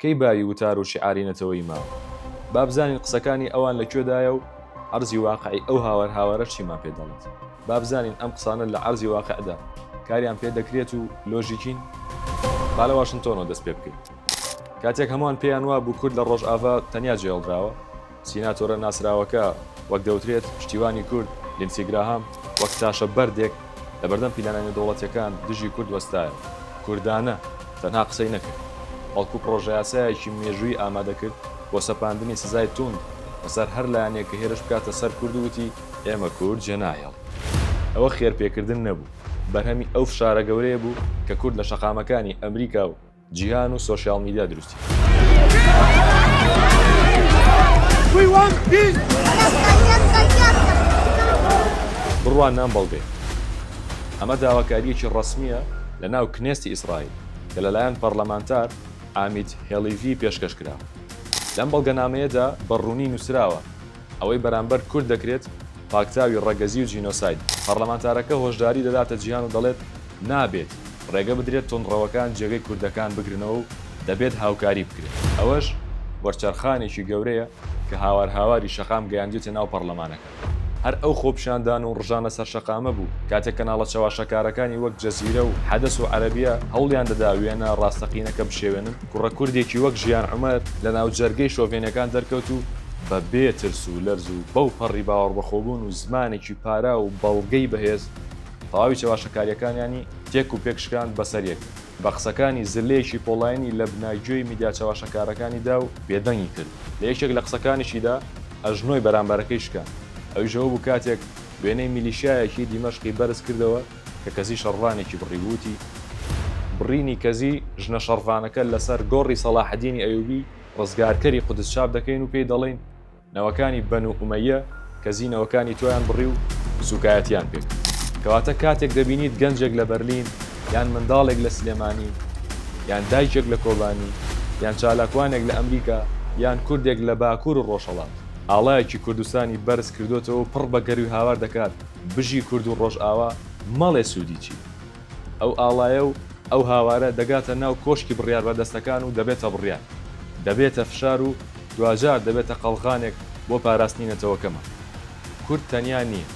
کەی باوی وتار و شیعاری نەتەوەیی ما؟ با بزانین قسەکانی ئەوان لە کوێدایە و عەرزی واقعی ئەو هاوار هاوارە چیمان پێ دەڵێت؟ با بزانین ئەم قسانە لە عەرزی واقعدا کاریان پێ دەکرێت و لۆژیکین؟ با لە واشنتۆنەوە دەست پێ بکەین. کاتێک هەمووان پێیان وابوو کورد لە ڕۆژاڤا تەنیا جێهێڵدراوە، سیناتۆرە ناسراوەکە وەک دەوترێت پشتیوانی کورد لیندسی گراهام وەک تاشە بەردێک لە بەردەم پیلانە نێودەوڵەتیەکان دژی کورد وەستایەوە. کوردانە تەنها قسەی نەکرد، بەڵکو پڕۆژەیاسایەکی مێژوویی ئامادەکرد بۆ سەپاندنی سزای توند بەسەر هەر لایەنێک کە هێرش بکاتە سەر کورد و وتی، ئێمە کورد جێناهێڵین. ئەوە خێرپێکردن نەبوو، بەرهەمی ئەو فشارە گەورەیە بوو کە کورد لە شەقامەکانی ئەمریکا و جیهان و سۆشیال میدیا دروستی کرد. بڕوانە ئەم بەڵگەیە. ئەمە داواکارییەکی ڕەسمییە لە ناو کنێستی ئیسرائیل کە لەلایەن پەرلەمانتار ئامیت هێڵیڤی پێشکەش کراوە. لەم بەڵگەنامەیەدا بە ڕوونی نووسراوە ئەوەی بەرامبەر کورد دەکرێت پاکتاوی ڕەگەزی و جینۆساید. پەڕلەمانتارەکە هۆشداری دەداتە جیهان و دەڵێت، نابێت ڕێگە بدرێت توندڕەوەکان جێگەی کوردەکان بگرنەوە و دەبێت هاوکاری بکرێت. ئەوەش وەرچەرخانێکی گەورەیە کە هاوار هاواری شەقام گەیاندویەتە ناو پەڕلەمانەکە. هەر ئەو خۆپیشاندان و ڕژانە سەر شەقامە بوو کاتێک کەناڵە چەواشەکارەکانی وەک جەزیرە و حەدەس و عەرەبیە هەوڵیان دەدا وێنە ڕاستەقینەکە بشێوێنن. کوڕە کوردێکی وەک ژیان عومەر لە ناوجەرگەی شۆڤێنەکان دەرکەوت و بە بێ ترس و لەرز و بەو پەڕی باوەڕبەخۆبوون و زمانێکی پاراو و بەڵگەی بەهێز تەواوی چەواشەکارییەکانیانی تێک و پێک شکاند بەسەر یەک بە قسەکانی زللەیەکی پۆڵاینی لە بنای گوێی میدیا چەواشەکارەکانی دا و بێدەنگی کرد. لە یەکێک لە قسەکانیشیدا ئەژنۆی بەرامبەرەکەی شکاند ئەویش ئەوە بوو کاتێک وێنەی میلیشیایەکی دیمەشقی بەرز کردەوە، کە کەزی شەڕڤانێکی بڕی و وتی. بڕینی کەزی ژنە شەڕڤانەکە لەسەر گۆڕی سەڵاحەدینی ئەیوبی ڕزگارکەری قودس چاپ دەکەین و پێی دەڵێین، نەوەکانی بەنو ئومەییە کەزی نەوەکانی تۆیان بڕی و سووکایەتیان پێ کرد. کەواتە کاتێک دەبینیت گەنجێک لە بەرلین یان منداڵێک لە سلێمانی یان دایکێک لە کۆبانی یان چالاکوانێک لە ئەمریکا یان کوردێک لە باکوور و ڕۆژهەڵات ئاڵایەکی کوردستانی بەرز کردۆتەوە و پڕ بە گەروی هاوار دەکات، بژی کورد و ڕۆژئاوا مەڵێ سوودی چییە؟ ئەو ئاڵایە و ئەو هاوارە دەگاتە ناو کۆشکی بڕیاربەردەستەکان و دەبێتە بڕیار، دەبێتە فشار و دواجار دەبێتە قەڵغانێک بۆ پاراستنی نەتەوەکەمان. کورد تەنیا نییە.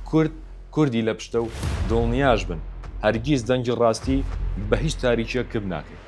کورد کوردی لە پشتە و دڵنیاش بن هەرگیز دەنگی ڕاستی بە هیچ تاریکییەک کپ ناکەین.